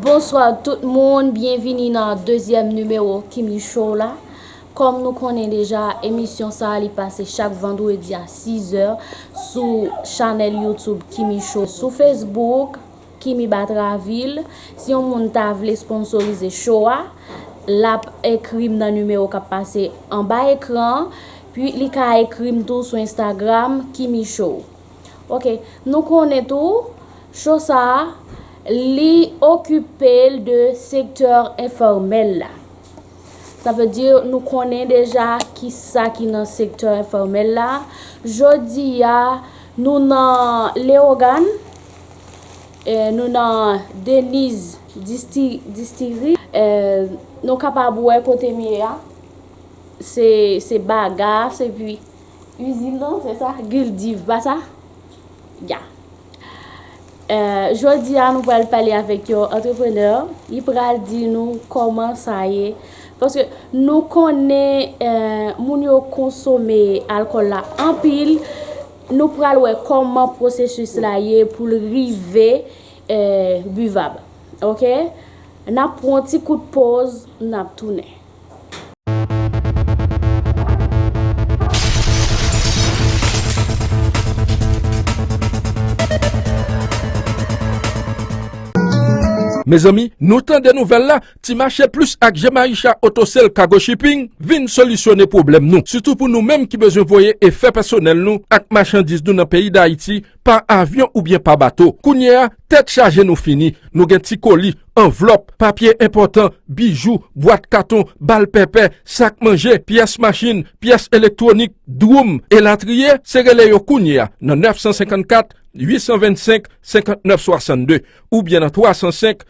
Bonswa tout moun, byenvini nan dezyèm nimewo Kimi Show la. Kòm nou konnen deja, emisyon sa li pase chak vandredi a 6 zè sou chanèl YouTube Kimi Show sou Facebook. Kimi Batraville, Si yon moun ta vle sponsorize show a, lap ekri m nan nimewo kap pase anba ekran an, pi li ka ekri m tou sou Instagram Kimi Show. Ok, nou konnen tou, show sa a, li okipe l de sektè enfòmèl la. Sa vle di nou konnen deja ki sa ki nan sektè enfòmèl la. Jodi a, nou nan Lewogàn. Nou nan Deniz Distillery. Nou kapab wè kote m ye a. Se ba ga a. Se pi usine nan. Se sa? Guldiv. Pa sa? Ya. Jodi a nou pral pale avèk yon entrepreneur. Li pral di nou kòman sa ye. Paske nou konnen moun yo konsome alkòl la anpil. Nou pral wè kòman pwosesis la ye pou l rive buvab ok nap pran yon ti kout poz nap tounen. Mezanmi nou tande nouvèl la Ti mache plis ak Jemaisha Autosale Cargo Shipping vin solisyone pwoblèm nou, sitou pou nou menm ki bezwen voye e fè pèsonèl nou ak machandiz nou nan peyi Dayiti pa avyon oubyen pa bato. Kounye a, tèt chaje nou fini, nou gen ti koli, anvlòp, papye enpòtan, bijou, bwat katon, bal pèpè, sak manje, pyès machin, pyès elektwonik, dwoum, elatriye, se rele yo kounye a nan 954 825 59 62 oubyen nan 305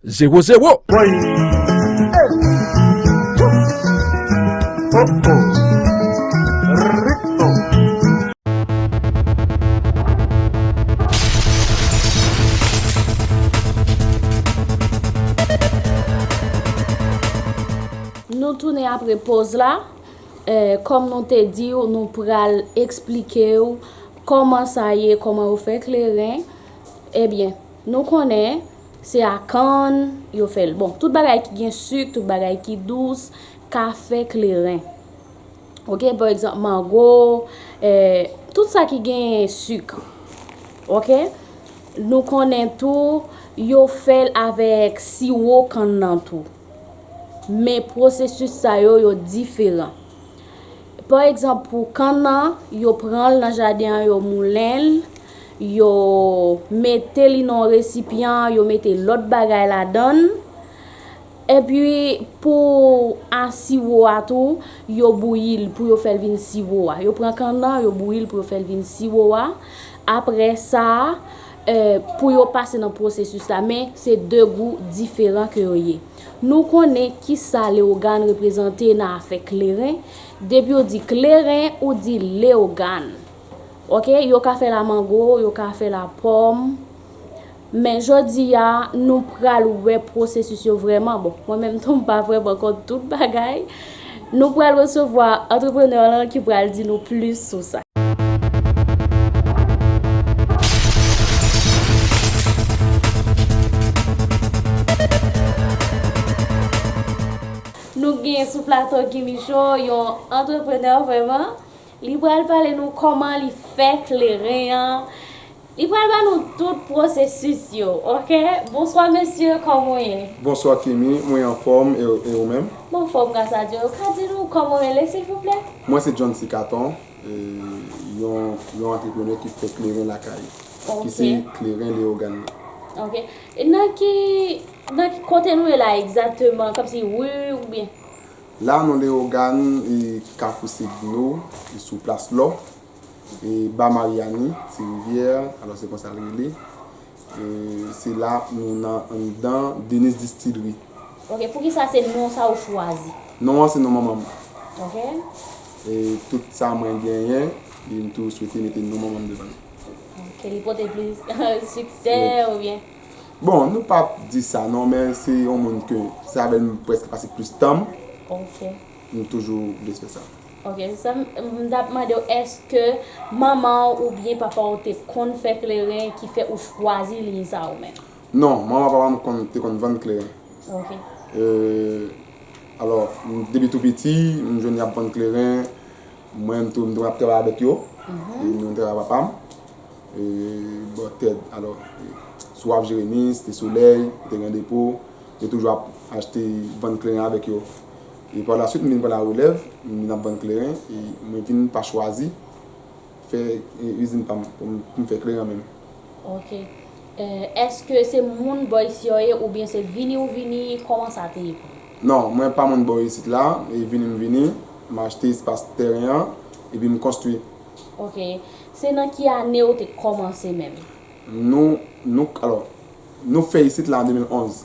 Zero zero! Woy! Hey! Ouf! Oh oh! Nou tounen apre poz la, kòm nou te di ou nou pral eksplike ou kòman sa ye, kòman yo fè kleren, ebyen nou konnen. Se a kann yo fè l. Bon, tout bagay ki gen suk, tout bagay ki dous, kafe, kleren. Ok, pa egzanp, mango, tout sa ki gen suk. Ok, nou konnen tou, yo fè l avèk siwo kann nan tou. Men, pwosesis sa yo, yo diferan. Pa egzanp pou kann nan, yo pran l nan jaden an yo moulen l, yo mete li nan yon resipyan, yo mete lòt bagay ladan l. Epi pou a siwo a tou, yo bouyi l pou yo fè l vin siwo a. Yo pran kann nan, yo bouyi l pou yo fè l vin siwo a. Apre sa, pou yo pase nan pwosesis la. Men, se de gou diferan ke yo ye. Nou konnen kisa Leogane reprezante nan afè kleren, depi ou di kleren ou di Leogane ok, yo ka fè la mango, yo ka fè la pòm men jodi a nou pral wè pwosesis yo vrèman, bon mwen menm tou m pa vrèman kont tout bagay. Nou pral resevwa antreprenè lan ki pral di nou plis sou sa. Nou gen sou plato Gimicho yon antreprenè vreman. Li pral pale nou koman li fè kleren an. Li pral ba nou tout processus yo ok. Bonswa mesye koman w ye? Bonswa Kimy, mwen anfòm e ou menm? M anfòm gras a Dye, ou ka di nou kòman w rele silvouplè? Mwen se Johncy Caton, yon antreprenè ki fè kleren lakay, ki se kleren Leyogan nan. Ok, nan ki, nan ki kote nou ye la egzakteman, kòm si ri oubyen? La nou Leyogan, kafou se dlo, sou plas lò, E ba Mariani, ti rivyè, alò se konsa l rele. E se la nou nan anndan Dennis Distillery. Ok, poukisa se non sa ou chwazi? Non an se non manman m. Ok. E tout sa mwen genyen, e m toujou swete mete non manman m devan l. Ok, li pote plis siksè oubyen? Bon, nou p ap di sa non, men se yon moun ke se avè l m prèske pase plis tan m. Ok. M toujou vle fè sa. Ok se sa m tap mandew eske manmanw ou byen papaw te konn fè kleren ki fè ou chwazi liy sa ou menm. Non manman papam konn te konn vann kleren. Ok. E alò depi tou piti m jwenn yap vann kleren mwen menm tou m te konn ap travay avèk yo e nou travay papam e bò tèt alò sou waf jeremi site solèy kote gran depo yo toujou ap achte vann kleren avèk yo. E pa la suit m vin pran la relèv, m vin ap vann kleren e mwen vin pa chwazi fè izin pa m pou m fè kleren menm. Ok. Eske se moun bò isi yo ye ou byen se vini ou vini, kòman sa te ye pou ou? Non, mwen pa moun bò isit la, e vini m vini, m achte espas tèren an epi m konstwi. Ok. Se nan ki ane ou te kòmanse menm? Nou, nou, alò, nou fè isit la an 2011.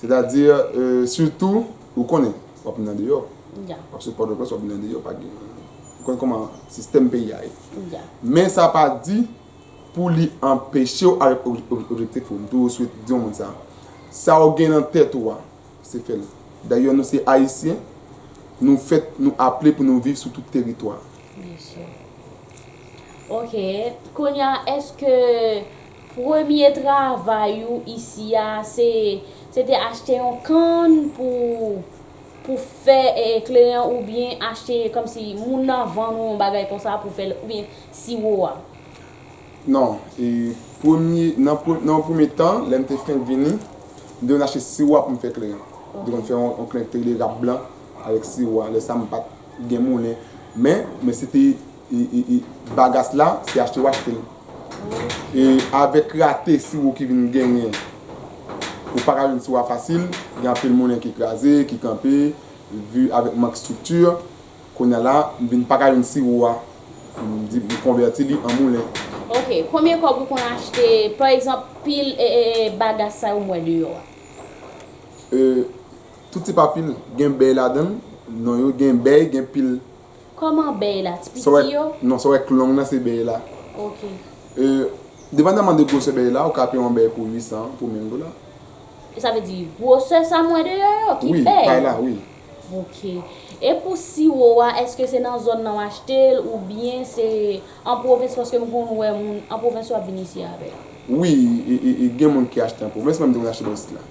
Sètadi, sitou, ou konnen, w ap vin nan deyò. W ap sot Pòtoprens, w ap vin nan deyò. Pa gen, ou konnen kòman sistèm peyi a ye. Men sa pa di pou li anpeche w ale objektif ou. M toujou sou di moun sa. Sa ou gen nan tèt ou a, se fè l. Dayò nou se Ayisyen, nou fèt, nou aple pou nou viv sou tout teritwa. Byen si. Ok. Kounye a, èske. Premye travay ou isi a se se te achte yon kann pou pou fè kleren oubyen achte kòmsi moun nan vann ou yon bagay konsa pou fèl oubyen siwo a? Non, e premye nan pre nan yon premye tan lè m te fenk vini m te konn achte siwo a pou m fè kleren. M te konn fè yon kleren ki te rele rap blan avèk siwo a lè sa m pa t gen moulen men men se te Bagas la se achte w achte l. E avèk rate siwo ki vin genyen, ou pa ka jwenn siwo a fasil. Gen anpil moulen ki kraze, ki kanpe, vi avèk mank estrikti. Kounye a la, m vin pa ka jwenn siwo a. M di m konvèti li an moulen. Ok. Konbyen kòb ou konn achte, pa egzanp, pil Bagas sa yo m wè deyò a? Tout tipa pil gen bèy ladan l. Non yo gen bèy, gen pil. Koman bèy la ti piti yo. Non sa wè k long nan se bèy la. Ok. E depandaman de gwosè bèy la ou ka peye yon bèy pou 800 pou menm gola. Sa vle di gwosè sa m wè deyò yo ki bèy. Wi pay la wi. Ok. E pou siwo a eske se nan zòn nan w achte l ou byen se an pwovens paske m konn wè moun an pwovens yo ap vin isi avèl. Wi e gen moun ki achte an pwovens menm tou moun achte nan isit la.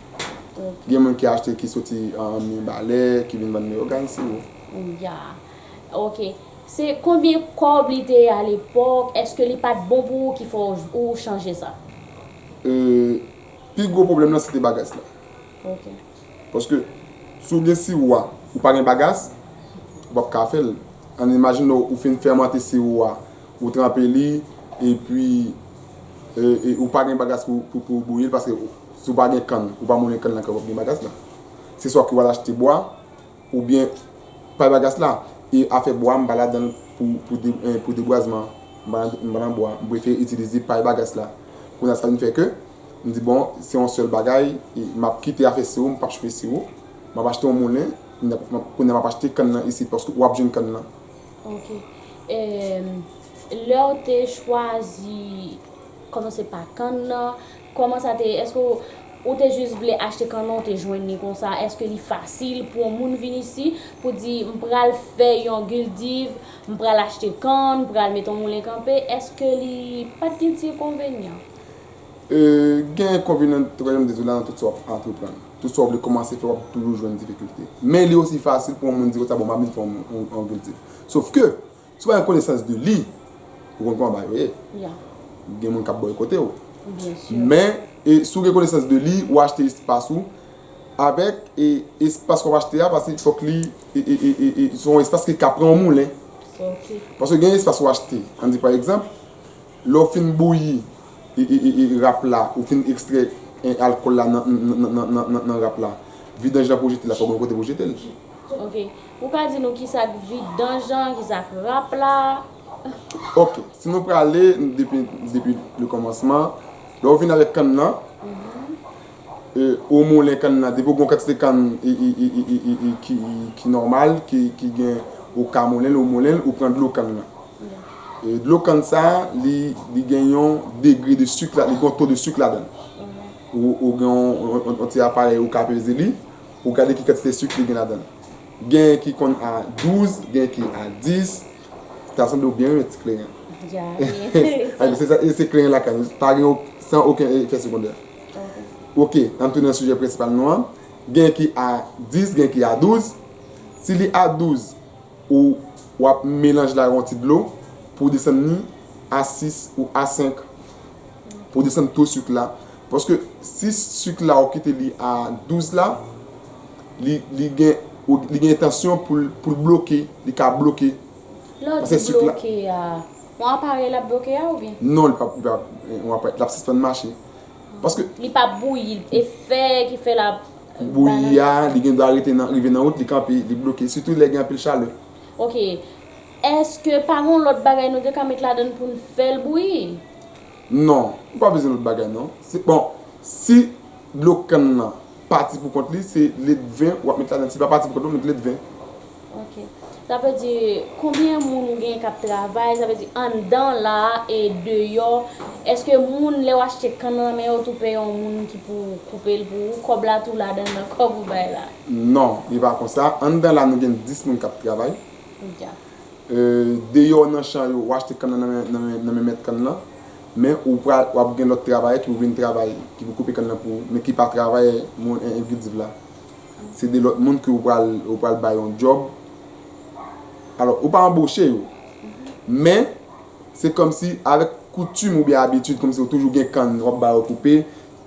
Ok. Gen moun ki achte ki soti an Mibalè ki vin vann Leyogàn siwo. Ouyaa ok se konbyen kòb li te ye a lepòk eske li pat bon pou ou ki fè ou chanje sa. Euh pi gwo pwoblèm lan se te bagas la. Ok. Paske si w gen siwo a ou pa gen bagas ou pap ka fè l. Ann imajine ou fin fèmante siwo a ou tranpe li epi ou pa gen bagas pou ou bouyi l paske si w pa gen kann ou pa moulen kann lan kòman w ap gen bagas la. Se swa ke w al achte bwa. Ou byen pay bagas la. E afè bwa m pa ladanl pou debwazman m pa nan bwa m prefere itilize pay bagas la kounya sa vin fè ke m di bon se yon sèl bagay m ap kite afè siwo m pap chfe siwo m ap achte yon moulen kounya m ap achte kann nan isit paske wap jwenn kann nan. Ok lèw te chwazi kòmanse pa kann nan Kòman sa te ye? Èske ou te jis vle achte kannon ou te jwenn li konsa? Èske li fasil pou yon moun vin isi pou di m pral fè yon guldiv, m pral achte kann, m pral mete yon moulen kanpe? Èske li pa t gen ti enkonvenyan? Gen enkonvenyan, tou ka jan m di sou la, nan tout sa w ap antreprann. Tout sa w vle kòmanse fè w ap toujou jwenn difikilte. Men li osi fasil pou yon moun di konsa bon m ap vin fè yon guldiv. Sofke! Si w pa gen konesans de li, ou konn kòman bagay yo ye. Gen moun k ap bòykote w. Men, si w gen konesans de li, ou achte espas ou. Avèk espas wap achte a, pase fòk li, se yon espas ki ka pran yon moulen. Pase gen espas wap achte. An di pa egzanp, lè w fin bouyi rap la, ou fin ekstrè alkòl la nan rap la, vidanj la pou w jete la, fòk gen yon kote pou w jete l. Ou ka di nou kisa k vidanj an, kisa k rap la? Ok, si nou prale depi le kòmansman, lè ou vin avèk kann nan, ou moulen kann nan, depi ou gen yon kantite kann ki nòmal, ki gen, ou ka moulen l, ou moulen l, ou pran dlo kann nan. Dlo kann sa, li gen yon degre de sik, li gen yon to de sik ladan l. Ou gen yon ti aparèy ou ka peze li, pou gade ki kantite sik li gen ladan l. Gen ki konn a 12, gen ki a 10. Ta sanble ou byen renmen ti kleren. Ya, e se kleren lakay ou, pa gen san oken efè segondè. Ok, an tounen nan sijè prensipal nou an. Gen ki a 10, gen ki a 12. Si li a 12, ou wap melanj la yon ti dlo pou desann ni a 6 ou a 5. Pou desann to suik la. Paske si suk la ou kite li a 12 la, li gen entansyon pou l bloke, li ka bloke. Lè w di bloke a, yon aparèy l ap bloke a oubyen? Non, li pa yon aparèy, l ap sispann mache. Li pa bouyi, efè ki fè l ap bouyi. Bouyi a, li gen dwa rete nan, rive nan wout, li kanpe, li bloke, sitou lè gen anpil chalè. Ok, èske pa gen yon lòt bagay nou te ka met ladann pou n fè l bouyi? Non, ou pa bezwen lòt bagay non. Se bon, si dlo kann nan pati pou kont li, se ledven wap met ladan. Si li pa pati pou kont li, wap met ledven. Ok. Sa vle di, konbyen moun ou genyen kap travay, sa vle di anndan la a e deyò, eske moun lèw achte kann nan nan men yo tou peye yon moun ki pou koupe l pou ou, kòb la tou ladan nan kòb ou bay la? Non, li pa konsa. Anndan la nou gen 10 moun kap travay. Dyak. Deyò nan chan yo, ou achte kann lan nan men mèt kann lan, men ou pral, wap gen lòt travayè ki pou vin travay, ki pou koupe kann lan pou ou, men ki pa travayè moun envidiv la. Se 2 lòt moun ke ou pral, ou pral bay yon djòb. Alò, ou pa anboche yo, men se kòmsi avèk koutim oubyen abitid, kòmsi yo toujou gen kann, wap ba yo koupe.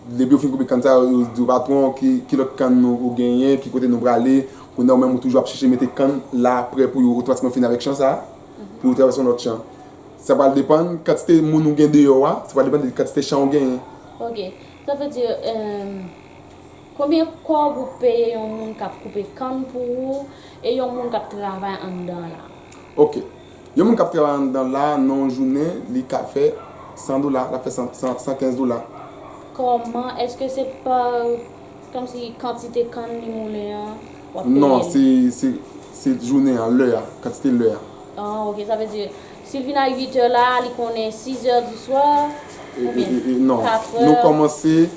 Depi yo fin koupe kann sa, yo di yo patwon ki lòt kann ou genyen, ki kote nou prale. Kounye a ou menm ou toujou ap chèche mete kann la prè pou yo otomatikman fini avèk chan sa, pou yo travèse yon lòt chan. Sa pral depann kantite moun ou gen deyò a, sa pral depann de kantite chan ou genyen. Ok, sa vle di konbyen kòb ou peye yon moun k ap koupe kann pou ou e yon moun k ap travay anndan la? Ok, Yon moun kap travay anndan la nan yon jounen li ka fè 100 dola, lap fè 115 dola. Kòman, eske se pa kòm si kantite kann li moulen an wap peye l? Non, se se jounen an, lè a, kantite lè a. Ah ok, sa vle di si l vin a 8 è la, li konnen 6 è di swa oubyen 4 è? Non, nou kòmanse,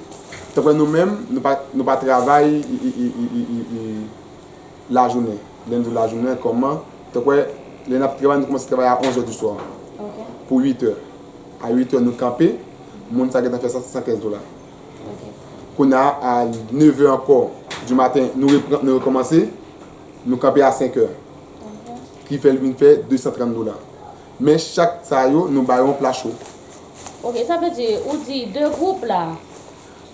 tanpre nou menm, nou pa travay Lajounen, lè n di lajounen kòman, tankwè lè n ap travay nou kòmanse travay a onzè diswa pou uitè. A uitè nou kanpe, moun sa gentan fè sa se sankèz dola. Kounya a nevè ankò dimaten nou repran nou rekòmanse, nou kanpe a senkè. Ki fè l vin fè desantrann dola. Men chak sa yo nou ba yo yon pla cho. Ok, sa vle di ou di de gwoup la.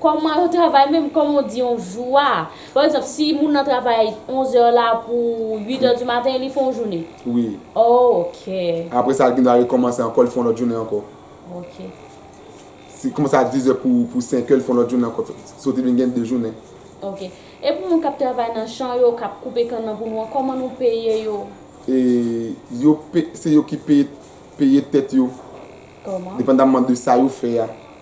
Kòman yo travay menm, kòman ou di yon jou a? Pa egzanp, si moun nan travay 11 è la pou 8 è di maten, li fè yon jounen? Wi. Ok. Apre sa, li gen dwa rekòmanse ankò, li fè yon lòt jounen ankò. Ok. Si li kòmanse a 10 è pou 5 è, li fè yon lòt jounen ankò. Sa w te vin gen 2 jounen. Ok. E pou moun k ap travay nan chan yo, k ap koupe kann nan pou nou an, kòman nou peye yo? E, yo pe, se yo ki peye, peye tèt yo. Kòman? Depandamman de sa yo fè a.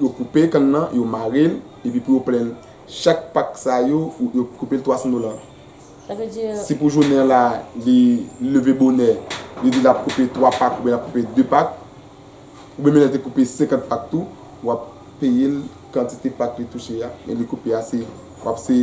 Yo koupe kann nan, yo mare l, epi pou yo plen l. Chak pak sa yo, yo koupe l 300 dola. Sa vle di. Si pou jounen an la, li leve bonè, li di l ap koupe 3 pak oubyen l ap koupe 2 pak, oubyen menm lè l te koupe 50 pak tou, w ap peye l kantite pak li touche a, men li koupe a se, w ap se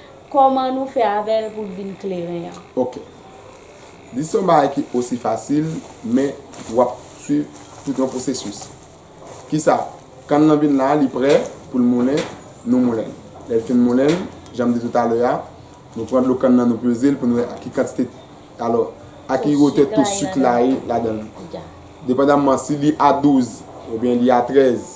Kòman nou fè avè l pou l vin kleren an? Ok. Di se yon bagay ki osi fasil, men w ap suiv tout yon pwosesis. Kisa? Kann lan vin la, li prè pou l moulen, nou moulen l. Lè l fin moulen l, jan m di tout alè a, nou pran dlo kann lan nou peze l pou nou wè ak ki kantite, alò, ak ki wotè to suk la ye ladan l. Depandamman si li a 12 oubyen li a 13,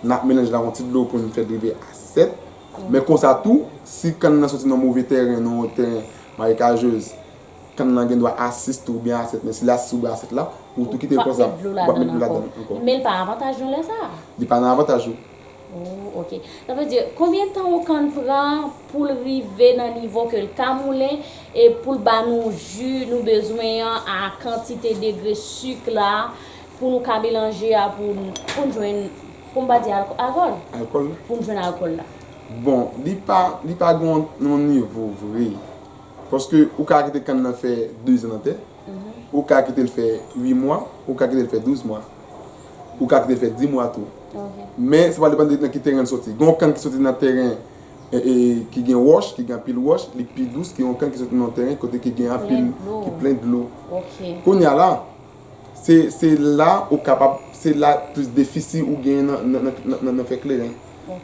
n ap melanj l ak yon ti dlo pou n fè l rive a 7. Men konsa tou, si kann nan soti nan move tèren, nan yon tèren marekajeuz, kann nan gen dwa a 6 tou oubyen a 7, men si l a 6 oubyen a 7 la, ou tou kite l konsa, ou pa p met dlo ladan l ankò. Men l pa avantaj nou lè sa a? Li pa nan avantaj ou. Oh ok. Sa vle di, konbyen tan yon kann pran pou l rive nan nivo ke l ka moulen e pou l ba nou ji nou bezwen an a kantite degre suk la, Pou nou ka melanje a pou n jwenn, pou m pa di alkòl. Alkòl la. Pou n jwenn alkòl la. Bon, li pa, li pa gen yon nivo vre. Paske ou ka kite kann nan fè dezan nan tè. Ou ka kite l fè ui mwa. Ou ka kite l fè douz mwa. Ou ka kite l fè di mwa tou. Ok. Men, sa pral depann de nan ki teren l soti. Gen yon kann ki soti nan teren ki gen wòch, ki gen anpil wòch, li pi dous ke yon kann ki soti nan yon teren kote ki gen anpil. Ki plen dlo. Ki plen dlo. Ok. Kounye a la. Se la ou kapab, se la plis defisi ou gen nan fè kleren.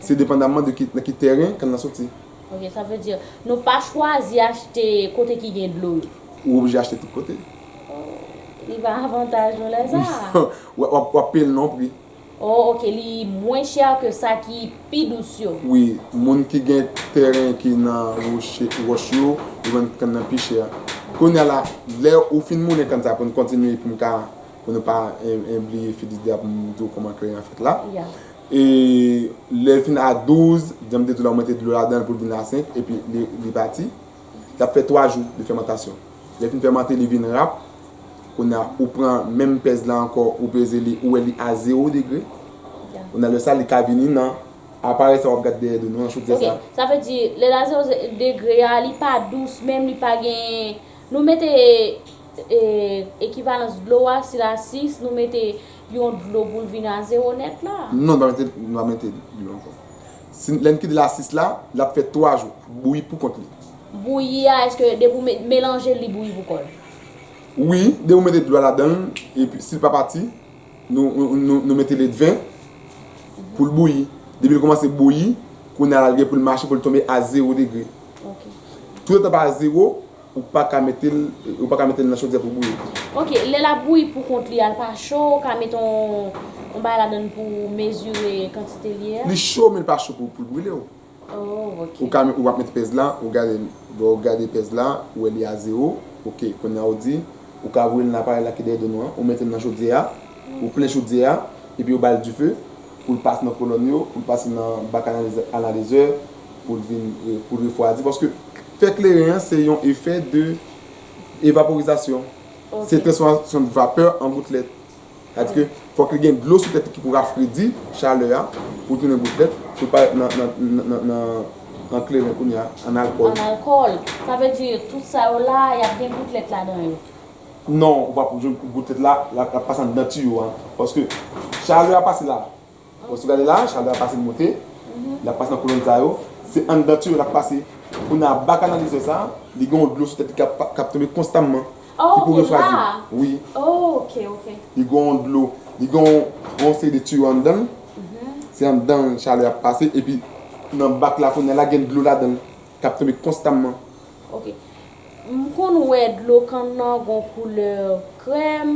Se depandamman de nan ki tèren kann lan soti. Ok, sa vle di nou pa chwazi achte kote ki gen dlo yo? Ou oblije achte tout kote. Li pa avantaj nou lè sa a? Wap peye l non pri. Oh ok li mwen cher ke sa ki pi dous yo. Wi moun ki gen tèren ki nan wòch yo yo vann kann nan pi chè kounya la lè ou fin moulen kann sa pou nou kontinye pou m ka pou nou pa bliye Fedidya pou m di w kòman kleren an fèt la e lè l fin a 12 jan m te di w la ou mete dlo ladan l pou l vin a 5 epi li pati. Li ap fè 3 jou de fèmantasyon. Lè fin fèmante li vin rap. Kounye a ou pran menm pèz la ankò ou peze li ou wè li a 0 degre. Kounye a lè sa li ka vini nan aparèy sa wap gad dèyè do nou an chodyè sa. Ok sa vle di lè la 0 degre a li pa dous menm li pa gen nou mete ekivalans dlo a si la 6 nou mete yon dlo poul vin a 0 nèt la? Non nou pa mete dlo ankò. Si lèn kite l a 6 la, lap fè 3 jou, ap bouyi pou kont li. Bouyi a eske depi ou met melanjel li bouyi pou kòl? Wi, depi ou mete dlo a ladanl epi sil pa pati nou mete ledven poul bouyi. Depil kòmanse bouyi, kounya lal gen poul mache poul tonbe a 0 degre. Toutotan pa a 0, Ou pa ka mete l ou pa ka mete l nan chodyè pou bouyi. Ok lè lap bouyi pou kont li a l pa cho ou ka met on on bagay ladann pou mezire kantite li a? Li cho men li pa cho pou l brile w. Oh ok. Ou ka ou wap met pèz la ou gade l lè w gade pèz la ou wè li a zewo ok kounya ou di ou ka voye l nan aparèy la ki dèyè do nou an ou mete l nan chodyè a ou plen chodyè a epi ou ba l dife pou l pase nan kolòn yo pou l pase nan bak analizè analizè pou l vin pou l refwadi paske Fè kleren an se yon efè de evaporizasyon. Se transfòmasyon de vapè an goutlèt. Sa di ke fòk li gen dlo sou tèt li ki pou rafredi chalè a pou tounen goutlèt pou l pa rèt nan kleren kounye a, an alkòl. An alkòl. Sa vle di tout sa yo la a y ap gen goutlèt ladan yo? Non, ou pa pou jwenn goutlèt la, l ap pase anndan tiyo a. Paske chalè a pase la, Bon si w gade la, Chalbè ap pase moute, li ap pase nan kolonn sa yo, se anndan tiyo l ap pase. Kounye a ba kanalizè sa, li gen yon dlo sou tèt li k ap k ap tonbe konstamman ki pou refwaji l. Wi. Li gen yon dlo, li gen yon seri de tiyo anndan l, se anndan l chalè ap pase epi nan bak la kounye a la gen dlo ladan l k ap tonbe konstamman. Ok. M konn wè dlo kann nan gen yon koulè krèm,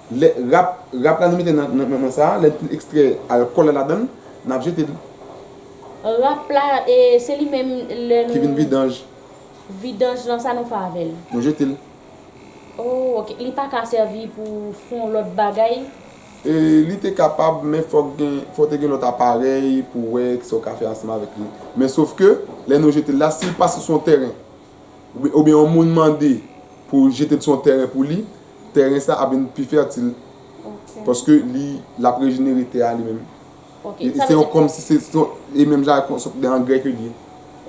Lè rap rap la nou mete nan nan nan sa a, lè li ekstrè alkòl la ladan l, n ap jete l. Rap la e se li menm lè n. Ki vin vidanj. Vidanj lan sa nou fè avè l? Nou jete l. Oh ok, li pa ka sèvi pou fon lòt bagay? E li te kapab men fòk gen fò te gen lòt aparèy pou wè kisa w ka fè ansanm avèk li. Men sof ke lè nou jete l la si l pase sou yon tèren. oubyen yon moun mande pou jete l sou yon tèren pou li, tèren sa ap vin pi fètil. Ok. Paske li, l ap rejenere tè a li menm. Ok. Sa vle di. Se yon kòm si se yon, e menm jan ak yon sòt de angrè ke l ye.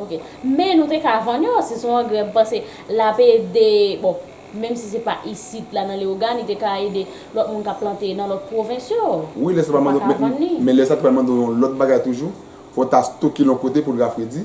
Ok. Men nou te ka vann yo, si se yon angrè, m panse l ap ede, bon, menm si se pa isit la nan Leyogàn, li te ka ede lòt moun k ap plante nan lòt pwovens yo. Wi, lè sa pral mande w, men lè sa te pral mande w yon lòt bagay toujou, fò w ta stoke l yon kote pou l rafredi.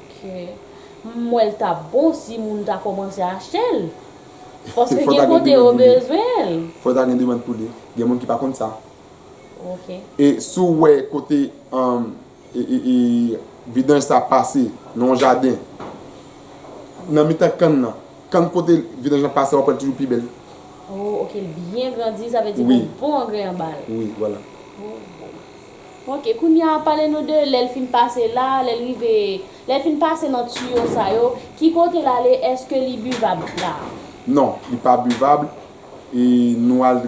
M wè l tap bon si moun ta komanse achte l. Paske gen kote yo bezwen l. Fò ta gen demand pou li. Gen moun ki pa konn sa. Ok. E si w wè kote vidanj sa pase nan yon jaden. Nan mitan kann nan. Kann kote vidanj lan pase wap wè l toujou pi bèl. Oh ok l byen grandi sa vle di gen bon angrè anba l. Wi wala. Ok kounya pale nou de lèl fin pase la lèl rive lèl fin pase nan tuyo sa yo ki kote lale eske li buvab la. Non, li pa buvab, e nou al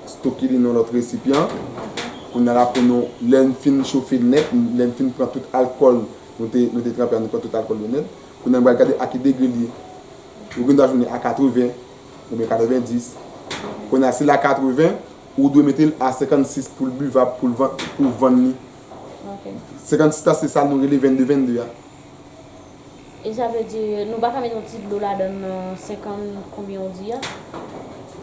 stoke li nan lòt resipyan, kounya la pou nou lèn fin chofe nèt, lèn fin pran tout alkòl nou te nou te tranpe a nou pran tout alkòl yo nèt, kounya nou pral gade a ki degre li ye, ou gen dwa jwenn li a 80 oubyen 90, kounya si li a 80 Ou dwe mete l a 56 poul buvab poul van pou vann li. Ok. 56 la se sa nou rele 22 22 a. E sa vle di nou pa ka mete yon ti dlo ladann nan 50 konbyen ou di a?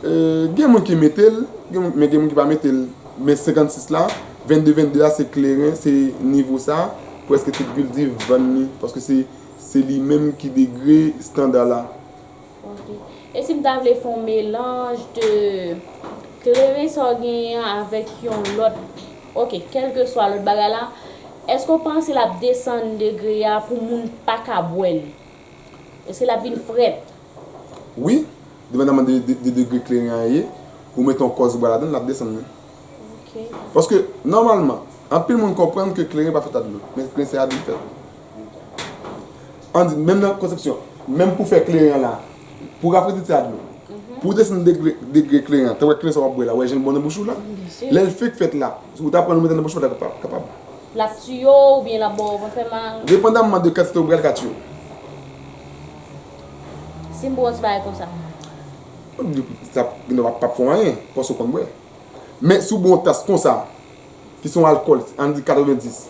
Eee gen moun ki mete l, men gen moun ki pa mete l. Men 56 la, 22 22 a se kleren, se nivo sa, preske tout vildiv vann li. Paske se li menm ki degre standa la. Ok. E si m ta vle fè yon melanj de kleren sa w genyen an avèk yon lòt, ok, kèlkeswa lòt bagay la, èske w panse l ap desann degre a pou moun pa ka bwè l? Èske l ap vin frèt? Wi, depandaman de degre kleren an ye, ou mete yon kòs bwa ladan l, l ap desann li. Ok. Paske, nòmalman, anpil moun konprann ke kleren pa fèt ak dlo, men kleren se a dlo l fèt. An di menm nan konsepsyon, menm pou fè kleren an la, pou rafredi ti a dlo, pou w desann degre kleren an, tanpèt kleren sa w ap bwè la, wè jan l bon nan bouch ou la, lè l fenk fèt la, si w ta pran l ou mete nan bouch ou pa ta kapab. L ap tiye w oubyen l ap ba w vant fè mal? Depandamman de kantite ou pran l ka tiye w. Si m bwè yon ti bagay konsa? Sa gen lè pa p fè w anyen, paske w konn bwè. Men si w bwè yon tas konsa, ki se yon alkòl, an n di 90.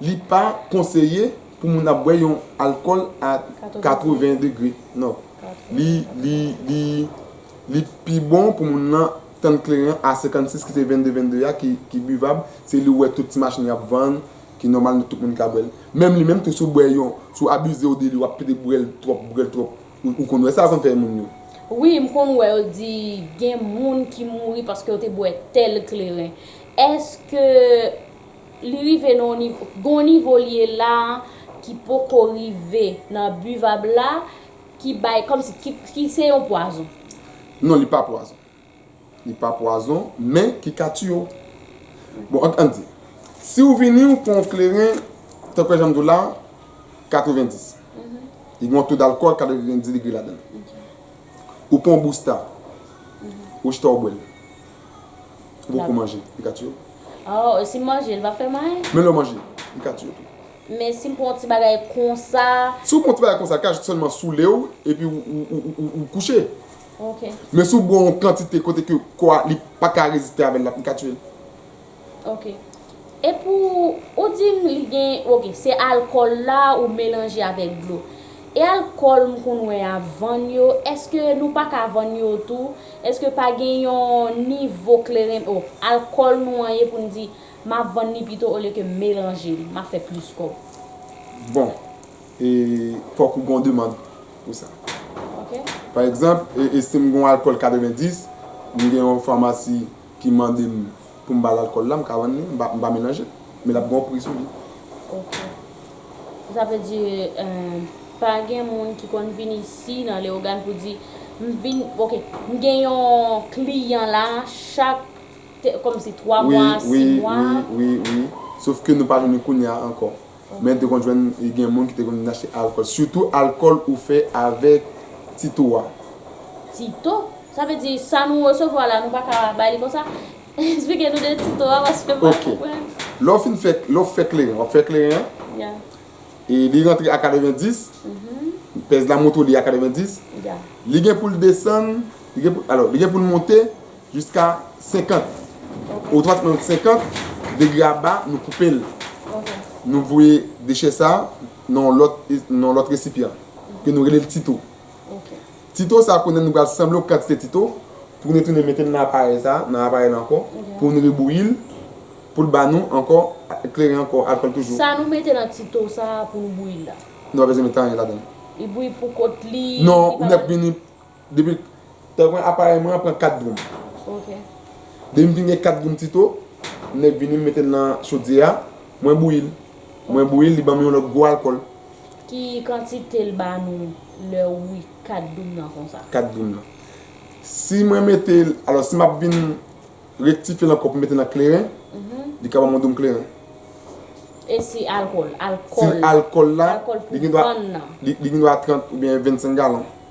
Li pa konseye pou moun ap bwè yon alkòl a 80 degre nò. Li pi bon pou moun lan tann kleren a 56 ki se 22 22 a ki bivab, se li ou wè tout ti machin yo ap vann ki nòmal nou tout moun ka bwè l. Menm li menm tou si w bwè yon, si w abize ou de li w ap pete bwè l twòp, bwè l twòp ou konn wè sa konn fè moun yo. Wi m konn wè yo di gen moun ki mouri paske yo te bwè tèl kleren. Èske. Li rive nan yon nivo, gen yon nivo li ye la a ki poko rive nan buvab la, ki bay, kòm si, ki se yon pwazon. Non li pa pwazon. Li pa pwazon, men ki ka tiye w. Bon, an n di, si w vini ou pran yon kleren, tankou jan m di w la, 90. Li gen yon to dalkòl 90 degre ladan l. Ou pran yon bousta. Ou chita ou bwèl. Ou poko manje. Li ka tiye w. Oh e si m manje li pap fè mal? Menm lè w manje li ka tiye w tou. Men si m pran yon ti bagay konsa. Si w pran yon ti bagay konsa li ka jis sèlman soule w epi ou kouche. Ok. Men si w bwè yon kantite kote ke kò a li paka reziste avèl li ka tiye l. Ok e pou ou dim li gen ok se alkòl la ou melanje avèk dlo e alkòl m konn wè ya vann yo eske nou paka vann yo tou eske pa gen yon nivo kleren oh alkòl nou an ye pou n di map vann li pito olye ke m melanje li map fè plis kòb. Bon e fòk ou gen yon demand pou sa pa egzanp e si m gen yon alkòl 90 m gen yon famasi ki mande m pou m ba l alkòl la, m ka vann li, m pa melanje. Men l ap gen yon pri sou li. Ok. Sa vle di, pa gen moun ki konn vin isi nan Leyogàn pou di, m vin, ok, m gen yon kliyan la chak kòmsi twa mwa, si mwa. Wi, wi, wi, wi. Sof ke nou pa jwenn li kounye a ankò. Men te konn jwenn gen moun ki te konn vin achte alkòl. Sitou alkòl ou fè avèk Tito a. Tito? Sa vle di sa nou resevwa la nou pa ka bay li konsa? Esplike nou de Tito a paske m pa konprann. Ok. Lè w fin fè, lè w fè kleren, w ap fè kleren an. Ya. E li rantre a 90. Mh. Pèz la montre w li a 90. Ya. Li gen pou l desann, li gen pou, alò, li gen pou l monte Jiska 50 ou 30 minutes 50 degre a ba nou koupe l nou voye dechè sa nan yon lòt resipyan ke nou rele l tito ti to sa kounye a nou pral sanble yon kantite ti to pou nou tounen mete l nan aparèy sa nan aparèy la ankò pou nou rebouyi l pou l ba nou ankò kleren ankò alkòl toujou sa nou mete nan ti to sa pou nou bouyi l la nou pa bezwen mete anyen ladan l li bouyi pou kont li non ou nèk vini. Depi tan mwen aparèy mwen an pran 4 goum. Ok. Depi m fin gen 4 goum ti to, m nèk vini m mete l nan chodyè a, mwen bouyi l. Mwen bouyi l, li ban m yon lòt gwo alkòl. Ki kantite l ba nou lè ou bouyi 4 doum nan konsa? 4 doum nan. Si mwen mete l, alò si m ap vin rektifye l ankò pou m mete l nan kleren, li ka ban m yon doum kleren. E si alkòl? Alkòl la, li gen dwa 30 oubyen 25 galon.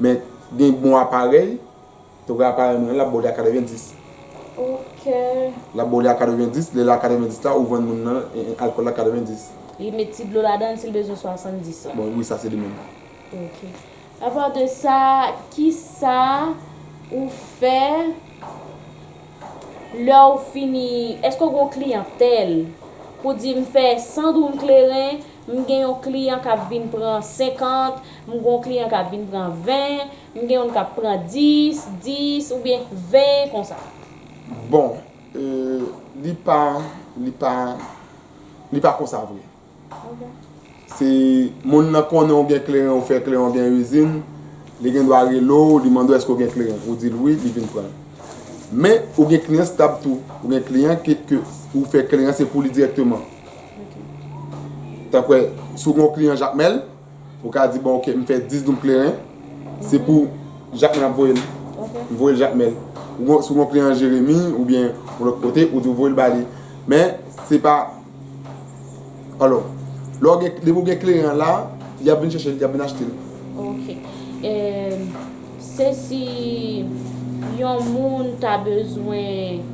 Men gen bon aparèy, te wè aparèy mwen an lap ba w li a 90. Ok. Lap ba w li a 90, lè li a 90 la ou vann moun nan alkòl la 90. Li met ti dlo ladan l si l bezwen 70 la. Bon wi sa se li menm. Ok. A part de sa, kisa ou fè lè ou fini, èske ou gen yon kliyantèl pou di m fè 100 doum kleren, M gen yon kliyan k ap vin pran 50, m gen yon kliyan k ap vin pran 20, m gen youn k ap pran 10, 10 oubyen 20 konsa. Bon, li pa, li pa, li pa konsa vre. Se moun nan konnen ou gen kleren, ou fè kleren, ou gen izin, li gen dwa rele w, li mande w èske ou gen kleren. Ou di l wi, li vin pran l. Men, ou gen kliyan stab tou. Ou gen kliyan ke ou fè kleren an se pou li dirèkteman. Tanpre, si w gen yon kliyan Jakmèl, ou ka di, bon, ok, m fè 10 doum kleren, se pou Jakmèl ap voye l. M voye l Jakmèl. Si w gen yon kliyan Jeremi, oubyen yon lòt kote, ou di w voye l ba li. Men, se pa, alò, lè w gen, depi w gen kleren an la, y ap vin chèche l, y ap vin achte l. Ok. Se si Yon moun ta bezwen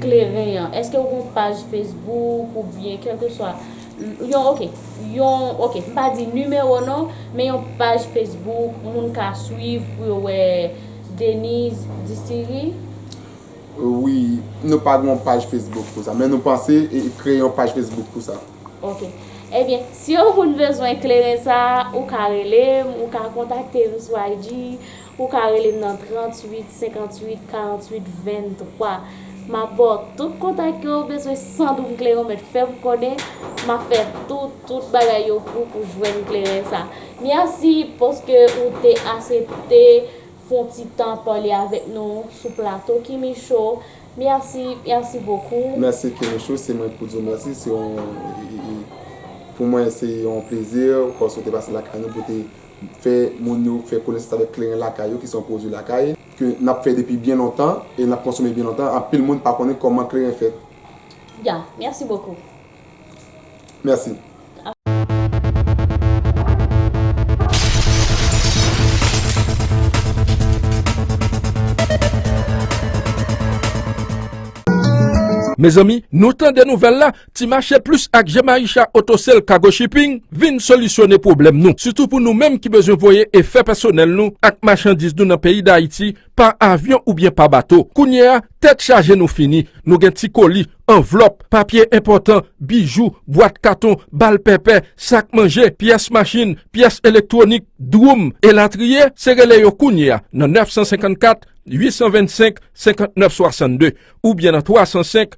kleren an eske ou gon paj Facebook ou byen kelke swa Yon ok Yon ok m pa di nimewo non men Yon paj Facebook moun ka swiv pou yo wè Denise Distillery. Wi nou pa gen yon paj Facebook pou sa men nou panse kreye yon paj Facebook pou sa. Ok. Ebyen, si yon moun bezwen kleren sa, ou ka rele m, ou ka kontakte m sou IG, ou ka rele m nan 38 58 48 23. M ap ba w tout kontak ke ou bezwen san doum kleren w mèt fè m konnen, m ap fè tout, tout bagay yo pou w pou w jwenn kleren sa. Mèsi paske ou te asepte fon ti tan pale avèk nou sou plato Kimi Show. Merci merci beaucoup. Merci Kerouchou se mwen ki pou di w merci se yon pou mwen se yon plezi paske w te pase lakay nou pou w te fè moun yo fè konesans avèk kleren lakay yo ki se yon pwodwi lakay ke n ap fè depi byen lontan e n ap konsome byen lontan anpil moun pa konnen kòman kleren fèt. Ya, merci beaucoup. Merci. Mezanmi nou tande nouvèl la ti mache plis ak Jemaisha auto sale cargo shipping vin solisyone pwoblèm nou sitou pou nou menm ki bezwen voye e fè pèsonèl nou ak machandiz nou nan peyi dayiti pa avyon oubyen pa bato. Kounye a, tèt chaje nou fini. Nou gen ti koli, anvlòp, papye enpòtan, bijou, bwat katon, bal pèpè, sak manje, pyès machin, pyès elektwonik, dwoum, elatriye, se rele yo kounye a nan 954 825 59 62 oubyen nan 305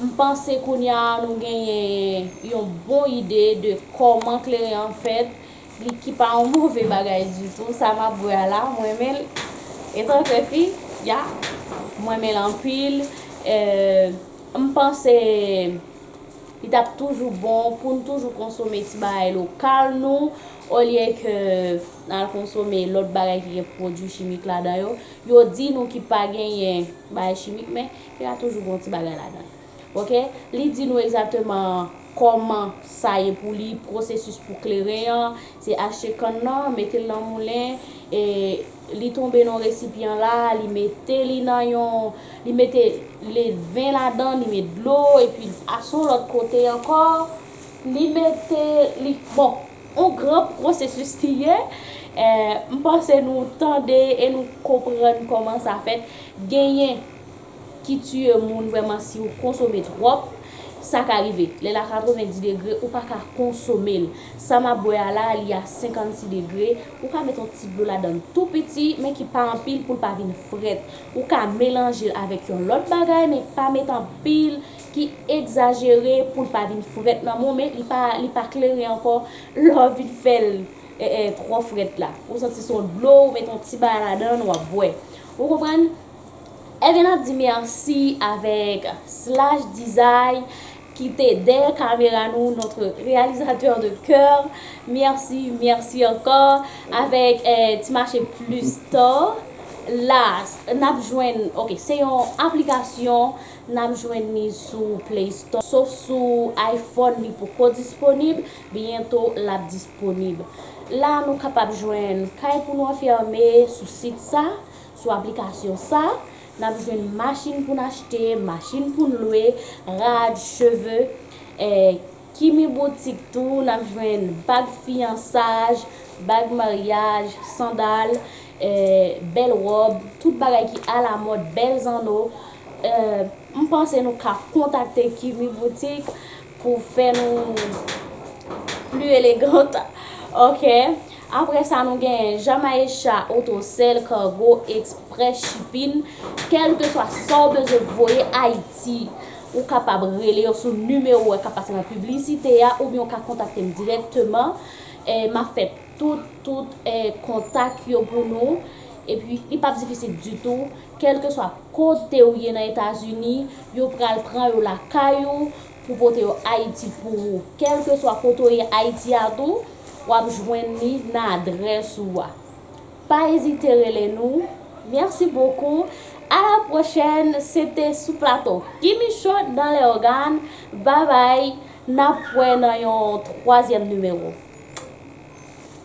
M panse kounya nou genyen yon bon ide de kòman kleren an fèt, li ki pa yon move bagay ditou, sa m ap bwè a la, m renmen l, etan ke fi, ya, m renmen l anpil, m panse li t ap toujou bon pou n toujou konsome ti bagay lokal nou, olye ke n al konsome lòt bagay ki gen pwodui chimik ladan yo, yo di nou ki pa genyen bagay chimik men. Te a toujou gon ti bagay ladann. Ok li di nou egzateman kòman sa ye pou li pwosesis pou kleren an se achte kann nan metel nan moulen e li tonbe nan yon resipyan la li mete li nan yon li mete ledven ladan li met dlo epi a son lòt kote ankò li mete li bon yon gran pwosesis li ye eh m panse nou tande e nou konprann kòman sa fèt genyen. ki tiye moun vrèman siw konsome tròp sa ka rive lèl a 90 degre ou paka konsomel sa map bwè a la li a 56 degre ou ka met yon ti dlo ladann tou piti men ki pa anpil poul pa vin frèt ou ka melanjel avèk yon lòt bagay men pa met anpil ki egzajere poul pa vin frèt nan menw men li pa klere ankò lèw vin fèl trò frèt la ou santi son dlo ou met yon ti bagay ladann wap bwè ou konprann. Evn ap di merci avek slash dizay ki te deye kamera nou notre realisateur de coeur merci merci anko avek ti mache plus to la nap jwenn ok se yon aplikasyon nap jwenn ni sou play store sof sou iphone li poko disponib byento lap disponib la nou kapab jwenn kay pou nou anfeme sou sit sa. Sou aplikasyon sa, n ap jwenn machin pou n achte, machin pou n lwe, rad, cheve. Kimi boutik tou, n ap jwenn bag fiyansaj, bag maryaj, sandal, bèl wòb, tout bagay ki alamòd, bèl zanno. M panse nou ka kontakte Kimi boutik. Pou fè nou pli elegant ok. Apre sa nou genyen Jamaecha otosèl cargo express shipping kelke swa sa w bezwen voye ayiti ou kapab rele yo sou nimewo a k ap pase nan piblisite a oubyen ou ka kontakte m dirèkteman m ap fè tout tout kontak yo pou nou epi li p ap difisil ditou. Kèlkeswa kote ou ye nan Etazini, yo pral pran yo lakay ou pou pote yo Ayiti pou ou. Kèlkeswa kote ou ye Ayiti a tou, w ap jwenn li nan adrès ou a. Pa ezite rele nou. Mèsi bokou. A la pwochèn. Se te sou plato Guy Michaud dans les organes. Babay. N ap wè nan yon twazyèm nimewo.